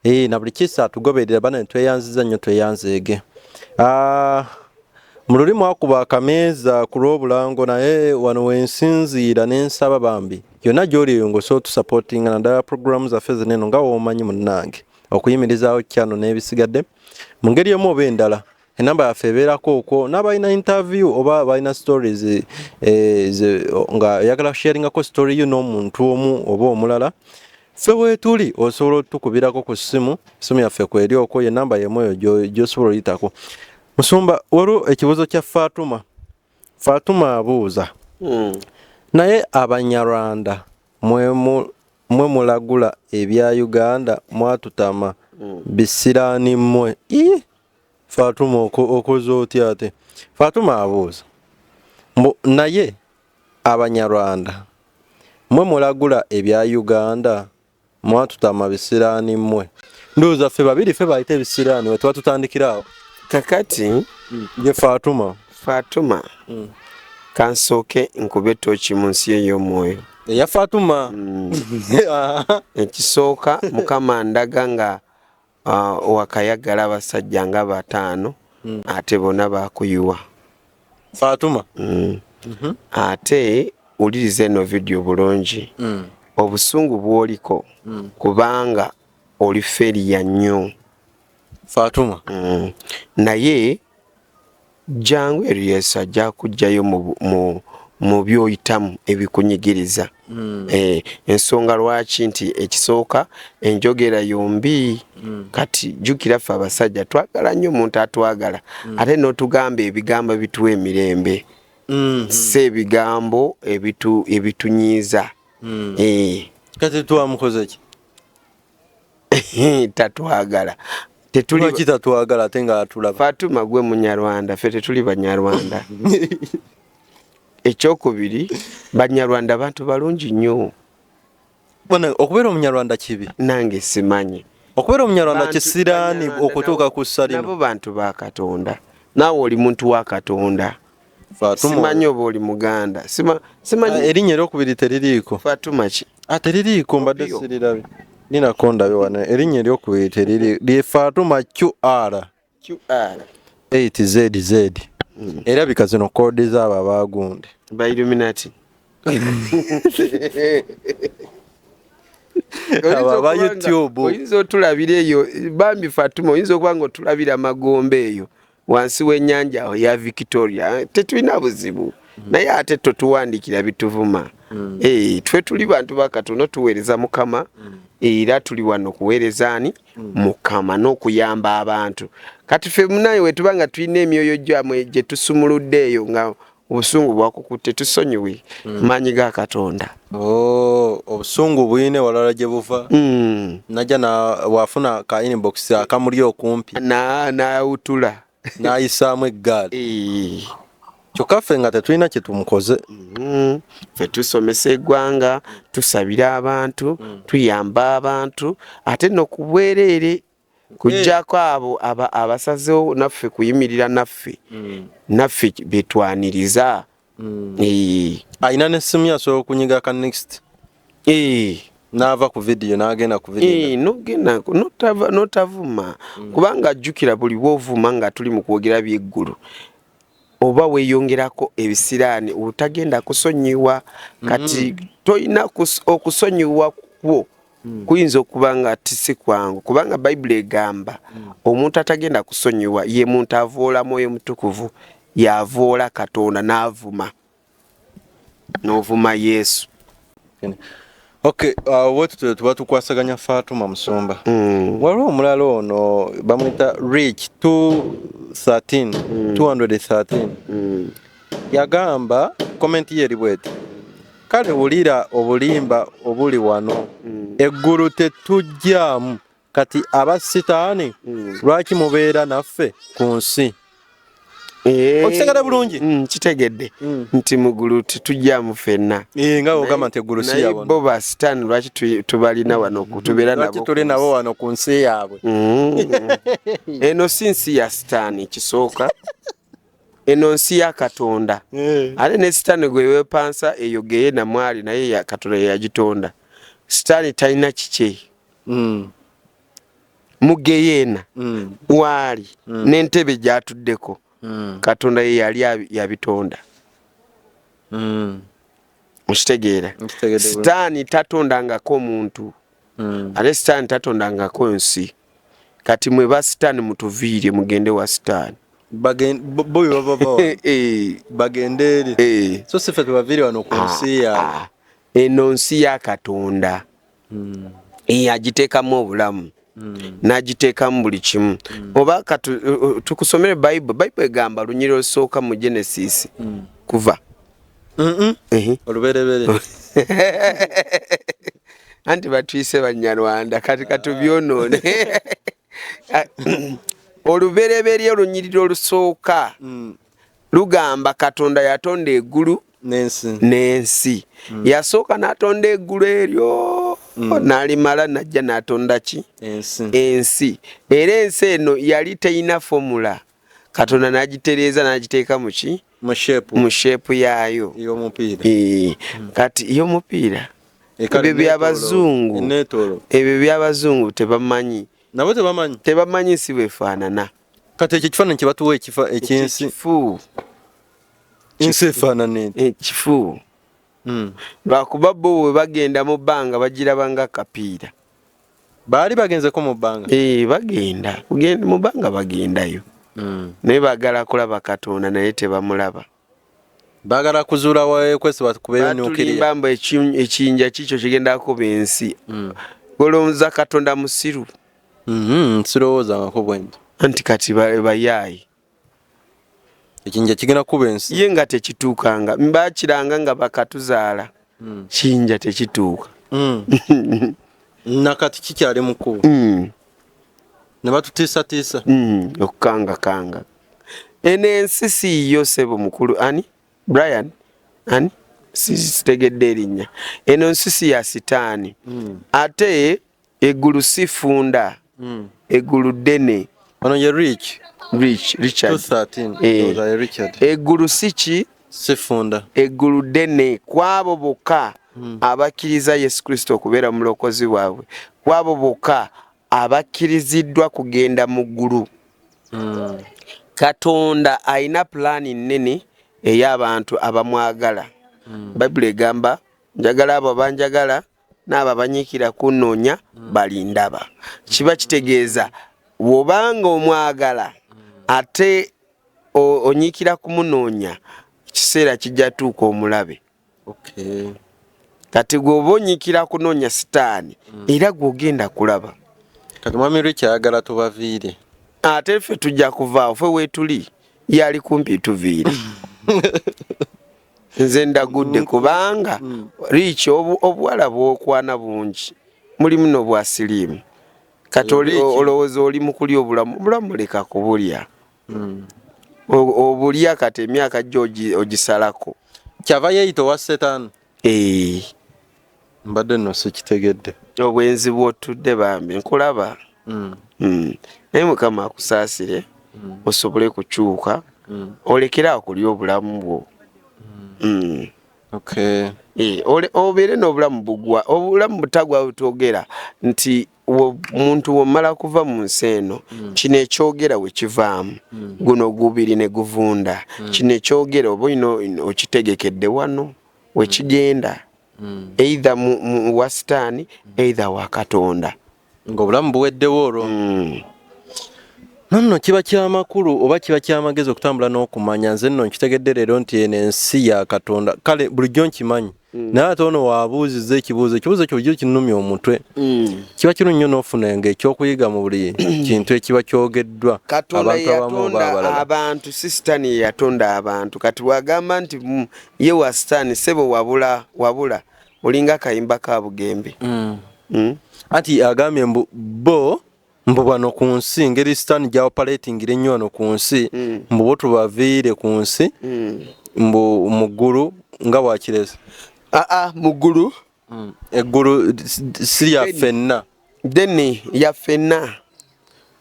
ee na buli kisa tugoberera bana netweyanziza nnyo tweyanzeege ah, mu luli mwakuba akameeza ku lw'obulango naye wano wensinziira nensaba bambi yonna gy'oli eyo ng'osobola otusapootinga naddala puroguramu zaffe zino eno nga woomanyi munnange okuyimirizaawo kyano n'ebisigadde mu ngeri emu oba endala enamba yaffe ebeerako okwo n'abalina interview oba balina stories eh, nga oyagala kusharingako story yo n'omuntu omu oba omulala ffe weetuli osobola otukubirako ku ssimu essimu yaffe kweri okwo ye namba yemu eyo gy'osobola oyitako musumba waliwo ekibuuzo kya faatuma Fatuma abuuza mm. naye abanyarwanda mwe mwe mulagula ebya uganda mwatutama mm. bisiraani mmwe fatuma okoze otya ate fatuma abuuza mbu naye abanyarwanda mwe mulagula ebya uganda Mwatutama bisiraani mmwe. Ndowooza ffe babiri ffe bayita ebisiraani we tuba tutandikira awo. Kakati ye Fatuma. Fatuma. Mm. Kansooke nkube tooki mu nsi ey'omwoyo. Eya Fatuma. Mm. Ekisooka Mukama ndaga nga Ah, wakayagala abasajja nga bataano mm. ate bona bakuyiwa fatuma mm. mm -hmm. ate uliriza eno vidiyo bulungi mm. obusungu bwoliko mm. kubanga oli feriya nnyo fatuma mm. naye Jangu eri Yesu ajja kujjayo mu, mu, mu byoyitamu ebikunyigiriza. Mm. Eh, ensonga lwaki nti ekisooka enjogera yombi mm. kati jukira ffe abasajja twagala nnyo omuntu atwagala mm. ate n'otugamba ebigambo ebituwa emirembe mm -hmm. si ebigambo ebitu, ebitunyiiza mm. eh. kati twamukozeki tatwagala tetulaki tatwagala ate nga atulaba fatuma gwe munyarwanda fe tetuli banyarwanda ekyokubiri banyarwanda bantu balungi nnyo okubeera omunyarwanda kibi nange simanyi okubeera omunyarwanda kisiraani okutuuka ku ssalino nabo bantu ba katonda naawe oli muntu wa katonda Fatuma. Simanyi oba oli Muganda. Sima, simanyi. Ah, Erinnya eryokubiri teririiko. Fatuma ki? Ah, teririiko mbadde sirirabe. Nina kondabe wano. Erinnya eryokubiri teriri lye Fatuma QR. QR. 8ZZ. Mm. Era bika zino koodi zaabo abaagunde. Ba Illuminati. aba youtube oyinza otulabira eyo bambi fatuma oyinza okuba nga otulabira amagombe eyo wansi w'ennyanja awo ya victoria tetulina buzibu mm. naye ate totuwandikira bituvuma mm. eh, twe tuli bantu bakatono tuweereza mukama mm. era tuli wano kuweereza ani mukama n'okuyamba abantu kati fe munaye wetuba nga tulina emyoyo gyamwe gye tusumuludde eyo nga obusungu bwakukutte tusonyiwe mm. maanyi ga katonda oh, obusungu buyina ewalala gye buva mm. najja wafuna ka inbox akamuli okumpi nawutula nayisaamu eggaali eh. kyokka ffe nga tetulina kye tumukoze mm-hmm. ffe tusomesa eggwanga tusabira abantu mm. tuyamba abantu ate nokubwereere Kujjako abo aba abasazewo naffe kuyimirira naffe mm. naffe betwaniriza mm. eh. ayina ne simu yasobola okunyiga ka next eh. naava ku vidiyo nagenda ku vidiyo nogenda notavuma mm. kubanga ajjukira buli bwovuma nga tuli mu kwogera byeggulu oba weyongerako ebisiraani olutagenda kusonyiwa kati mm. tolina okusonyiwa kwo mm. kuyinza okuba nga tisi kwangu kubanga bayibuli egamba mm. omuntu atagenda kusonyiwa ye muntu avoola mwoyo mutukuvu yavoola katonda n'avuma n'ovuma yesu Okay, uh, what to tuba tukwasaganya Fatuma Musumba. Mm. Waliwo omulala ono bamwita Rich 213 mm. 213. Mm. Yagamba comment ye libwete. Kale wulira obulimba obuli wano. Mm. Eggulu tetujjamu. kati aba sitaani mm. lwaki mubeera naffe ku nsi eh. okitegede bulungi mm, kitegedde mm. nti mugulu tetujjamu fenna eh, nga ogamba nti eggulu si yabona bo ba sitaani lwaki tubalina wano tubeera nabo tuli nabo wano ku nsi yaabwe eno si nsi ya sitaani kisooka eno nsi ya katonda eh. ate ne sitaani gwe wepansa eyo geye namwali naye katonda yeyagitonda sitaani talina kikye mm. mugeyeena mm. waali mm. nentebe gyatuddeko mm. katonda ye yali yabitonda mm. mukitegeera sitaani tatondangako omuntu mm. ate sitaani tatondangako nsi kati mwe ba sitaani mutuviire mugende wa sitaani boyo babavawa eh, eh. bagende eri eh. so sife tubaviire wano ku ah, nsi yaabwe ah. eno nsi ya katonda mm. agiteekamu obulamu mm. n'agiteekamu buli kimu mm. oba tukusomere bible bible egamba lunyiri olusooka mu genesis mm. kuva oluberebere anti batwise banyarwanda kati katubyonoone olubereberye olunyiriri olusooka mm. lugamba katonda yatonda egulu n'ensi mm. yasooka n'atonda eggulu eryo mm. n'alimala n'ajja n'atonda ki ensi era ensi eno yali terina fomula katonda n'agitereeza n'agiteeka mu ki mu sheepu yaayo mm. kati ey'omupiira ebyo byabazungu ebyo byabazungu tebamanyi nabo tebamanyi tebamanyi si bwefaanana kati ekyo ekifaananyi kye batuwa ekifa ekyensi ensi efaanana eti ekifu eh, hmm. lwakuba bo we bagenda mu bbanga bagiraba nga kapiira baali bagenzeko mu bbanga ee eh, bagenda mu bbanga bagendayo hmm. naye bagala kulaba katonda naye tebamulaba bagala kuzuula wawekwesi bakubeyo nukirimba mbu ekiyinja kikyo kigenda kuba ensi mm. olowooza katonda musiru mm-hmm, sirowoozangako bwenti anti kati bayaayi ekiyinja kigenda kuba ensi ye nga tekituukanga bakiranga nga bakatuzaala mm. kiyinja tekituuka mm. nakati kikyali mukulu nebatutiisatiisa okukangakanga eno ensi siiyo sebo mukulu ani brian ani sitegedde erinnya eno nsi si ya sitaani hmm. ate eggulu sifunda hmm. eggulu ddene ono ye rich rich richard eggulu eh. si ki sifunda eggulu ddene kwabo bokka hmm. abakkiriza yesu kristo okubeera mu bulokozi bwabwe kwabo bokka abakkiriziddwa kugenda mu ggulu Hmm. Katonda alina pulaani nnene ey'abantu abamwagala. Hmm. Bayibuli egamba njagala abo abanjagala n'abo abanyiikira kunnoonya hmm. balindaba. Kiba kitegeeza wobanga omwagala ate onyiikira kumunoonya, ekiseera kijja tuuka omulabe. kati gwe oba onyikira kunoonya sitaani hmm. era gwe ogenda kulaba kati mwami lwe kyayagala tubaviire ate ffe tujja kuvaawo fe weetuli yali kumpi tuviire nze ndagudde kubanga hmm. riiki obuwala bwokwana bungi mulimu nobwa siriimu kati olowooza oli mukulya obulamu obulamu leka kubulya hmm. obulya kati emyaka gyo ogisalako kyava yeyita owa setani eh. mbadde no sikitegedde obwenzi bwotudde bambi nkulaba hmm. Hmm. naye mukama akusaasire osobole kukyuka olekere awo kulya obulamu bwo Eh, obeere n'obulamu bugwa obulamu butagwa butwogera nti omuntu womala kuva mu nsi eno hmm. kino ekyogera wekivaamu hmm. guno gubiri ne guvunda hmm. kino ekyogera oba olina okitegekedde wano wekigenda eitha wa sitaani eitha wa katonda ngaobulamu buweddewo olwo nonno kiba kyamakulu oba kiba kyamagezi okutambula n'okumanya nze nno nkitegedde leero nti eno ensi ya katonda kale bulijjo nkimanyi Mm. naye ate ono waabuuzizza ekibuuzo ekibuuzo ekyo bujo kinumya omutwe mm. kiba kinu nnyo n'ofuna nga ekyokuyiga mu buli kintu ekiba kyogeddwa katonda yatonda abantu si sitaani ye yatonda abantu kati bwagamba nti mm, ye wa sitaani sebo wabula wabula olinga akayimba ka bugembe anti agambye mbu bo mbu bano ku nsi ngeri sitaani gyawopaleetingira ennyo wano ku nsi mm. mbu bo tubaviire ku nsi mm. mbu mu ggulu nga bwakireza aa ah, ah, mu ggulu mm. eggulu si lya ffenna deni ya ffenna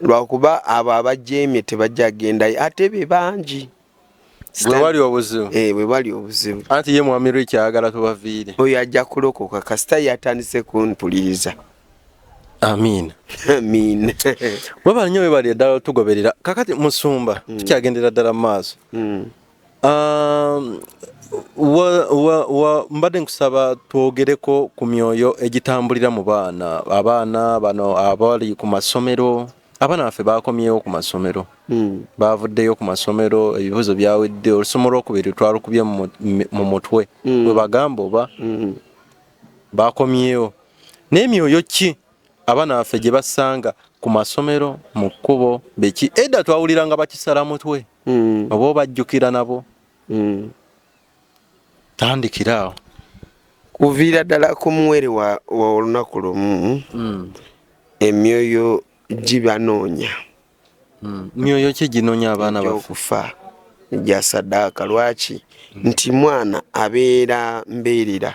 lwakuba abo abajeemye tebajja gendayo ate be bangi webali obuzibu eh, webali obuzibu anti ye mwami rich ayagala tubaviire oyo ajja kulokoka kasita yatandise kumpuliriza amin amin webali nyo webali eddala otugoberera kakati musumba mm. tukyagendera ddala mu maaso mm. um, mbadde nkusaba twogereko ku myoyo egitambulira mu baana abaana bano abali ku masomero abaana baffe baakomyewo ku masomero hmm. baavuddeyo ku masomero ebibuuzo byawedde olusoma olwokubiri twalukubye mu mutwe hmm. bwe bagamba oba hmm. baakomyewo naye myoyo ki abaana baffe gye basanga ku masomero mu kkubo beki edda twawuliranga bakisala mutwe oba obajjukira nabo tandikira awo kuviira ddala ku muwere wa olunaku lumu hmm. emyoyo gibanoonya hmm. myoyo ki ginoonya abaana bakufa gya sadaaka lwaki hmm. nti mwana abeera mbeerera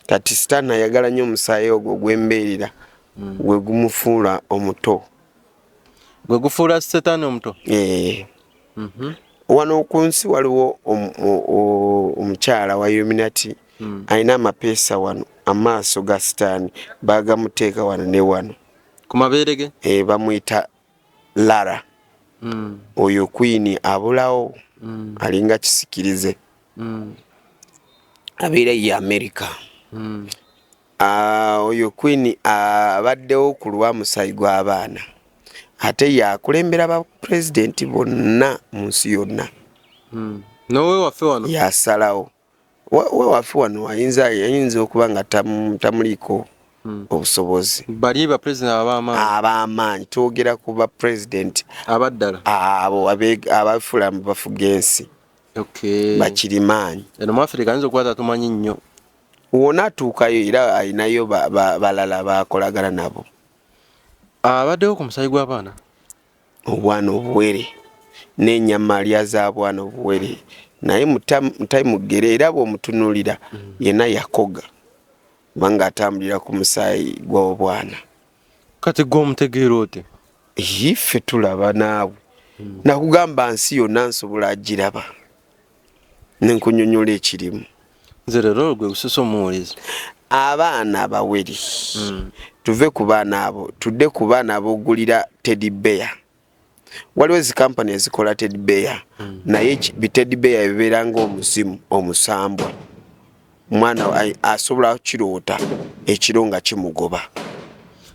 kati sitaani ayagala nnyo omusaayi ogwo gwembeerera gwe gumufuula omuto gwe gufuula setaani omuto eh. mhm. wano ku nsi waliwo omukyala wa illuminati hmm. alina amapeesa wano amaaso ga sitaani bagamuteeka wano ne wano ku mabeere ge eh, bamuyita lara hmm. oyo kwini abulawo hmm. alinga kisikirize abeera ye amerika Ah, oyo queen abaddewo ku lwa musayi gw'abaana ate yakulembera ba president bonna mu nsi yonna hmm. nowewaffe wano yasalawo wewaffe wano ayinza ayinza okuba nga tamuliiko hmm. obusobozi bali ba president abamaanyi abamaanyi twogera ku ba president abaddala abo abafula bafuga ensi bakirimaanyi eno mu afirika ayinza okuba tatumanyi nnyo wona atuukayo era alinayo balala bakolagana nabo abaddewo ku musayi gw'abaana obwana obuwere n'enyama lya zaabwana obuwere naye mutayimugere era bw'omutunulira mm. yena yakoga kubanga atambulira ku musaayi gw'obwana kati gwe omutegeera oti ife tulaba naawe hmm. nakugamba nsi yonna nsobola agiraba nenkunyonyola ekirimu nze lero gwe bususa omuwulizi abaana abawere hmm. tuve ku baana abo tudde ku baana abogulira teddy bear waliwo ezi kampani ezikola tedbeya mm. naye bitedbeya ebibeera ngaomuzimu omusambwa omwana asobola kiroota ekiro nga kimugoba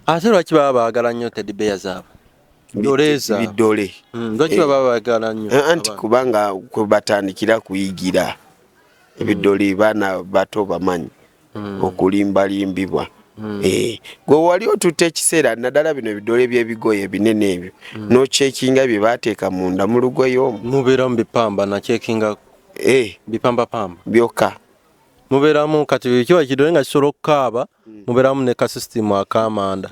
ate lwaki baba baagala nnyo tedbeya zaabwe biddole mm, lwaki baba baagala nnyo eh, anti kubanga kwebatandikira kuyigira ebidoli baana bato bamanyi hmm. okulimbalimbibwa hmm. eh, gwe wali otutte ekiseera naddala bino ebidole byebigoye ebinene ebyo hmm. nokyekinga bye bateeka munda mu lugoye omu mubeeramu bipamba nakyekinga eh. bipambapamba byokka mubeeramu kati kiba kidole nga kisobola okukaaba hmm. muberamu ne ka system akamanda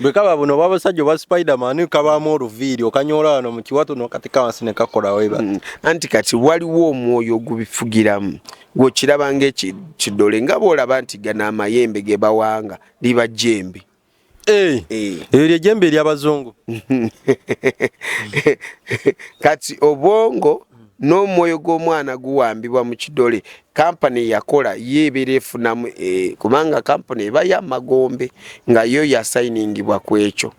bwekaba buno oba abasajja oba spiderman kabaamu oluviiri okanyoola wano mu kiwato nokati kawansi ne kakolawo eba hmm. anti kati waliwo omwoyo ogubifugiramu gwokiraba ngaekidole nga boolaba nti gano amayembe ge bawanga liba jembe Eh, eh. eyo lyejembe eryabazungu kati obwongo n'omwoyo gw'omwana guwambibwa mu kidole kampani yakola ye ebeera efunamu eh, kubanga kampani eba yamagombe nga yo yasayiningibwa ku ekyo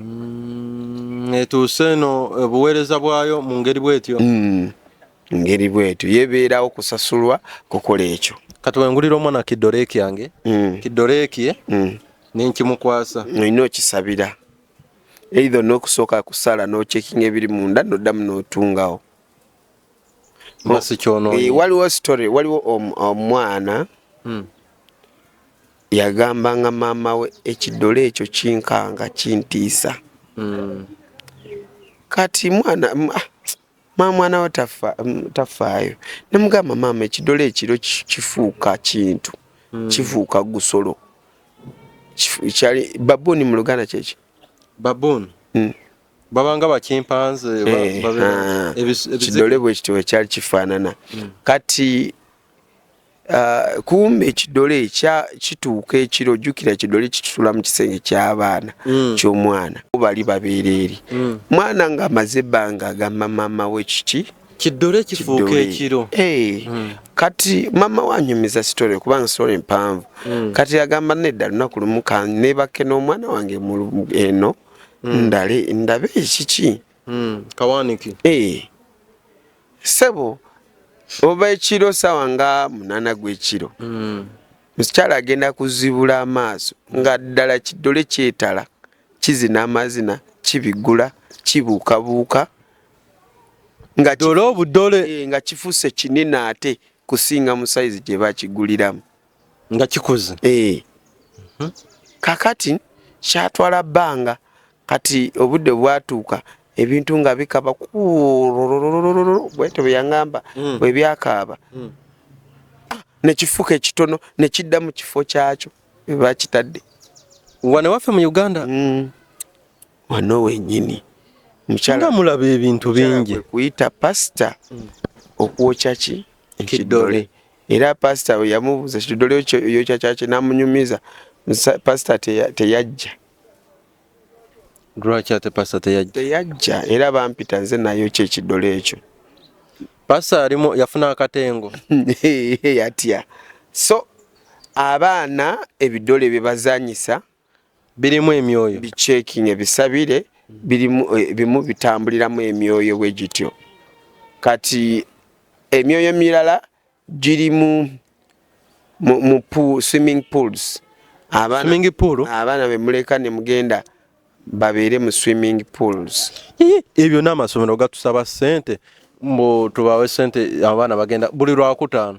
mm, etuuse eno obuweereza eh, bwayo mu ngeri bwetyo mm, ngeri bwetyo yebeerawo kusasulwa kukola ekyo kati wengulira omwana kidoreeki yange mm. kidoreeki eh? mm. nenkimukwasa olina okisabira eitha olina okusooka kusala nocekinga ebiri munda noddamu notungawo eh, waliwo story waliwo omwana mm. Yagambanga maama we ekidole ekyo kinkanga kintiisa kati mwana ah, maama mwana we tafaayo nemugamba maama ekidole ekiro kifuuka kintu hmm. kifuuka gusolo kyali babooni mu luganda kyekyo babooni hmm. babanga bakimpanze eh, ah, ekidole bwekityo wekyali kifaanana hmm. kati Uh, kumbe ekidole kituuka ekiro jukira ekidole kikitula mu kisenge kyabaana mm. kyomwana bali babeera eri mm. mwana nga amaze ebbanga agamba maama we kiki kidole kifuuka ekiro hey. Eh, mm. kati mama wanyumiza story kubanga story mpanvu mm. kati agamba nedda lunaku lumu kanebake n'omwana wange eno mm. ndale ndabe ekiki mm. kawaniki hey. Eh. sebo ova ekiro sawa nga munana gwekiro mm. mukyala agenda kuzibula amaaso nga ddala kidole kyetala kizina amazina kibigula kibuukabuuka nga dole obudole eh, nga kifuse kinene ate kusinga musaizi gyebakiguliramu nga kikuze eh mhm. kakati kyatwala banga kati obudde bwatuuka ebintu nga bikaba bwete bweyangamba mm. bwebyakaaba mm. ah, nekifuka ekitono nekidda mu kifo kyakyo ebakitadde wano waffe mu uganda mm. wano wenyini mukyala mulaba ebintu bingi kuyita pasita okwokya ki ekidole era pasita we yamubuuza kitudole yokyakyaki namunyumiza pasita teyajja lwaki ate pasita teyajja teyajja era bampita nze nayo kyekidole ekyo pasita yalimu yafuna akatengo yatya so abaana ebidole byebazanyisa birimu emyoyo bichecking ebisabire birimu eh, bimu bitambuliramu emyoyo bwe gityo kati emyoyo mirala giri mu mu pool, swimming pools abaana swimming pool abaana be muleka ne mugenda babeere mu swimming pools ebyo n'amasomero gatusaba sente mbu tubawe sente abaana bagenda buli lwakutaano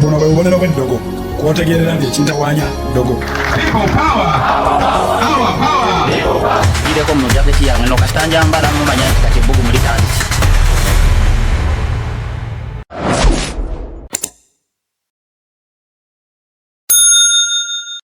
buno bwe bubonero bw'eddogo kwotegeerera nti ekintawanya ddogo gireko mu jaketi yange no kasita njambala mumanya nti kati ebbugumu litandise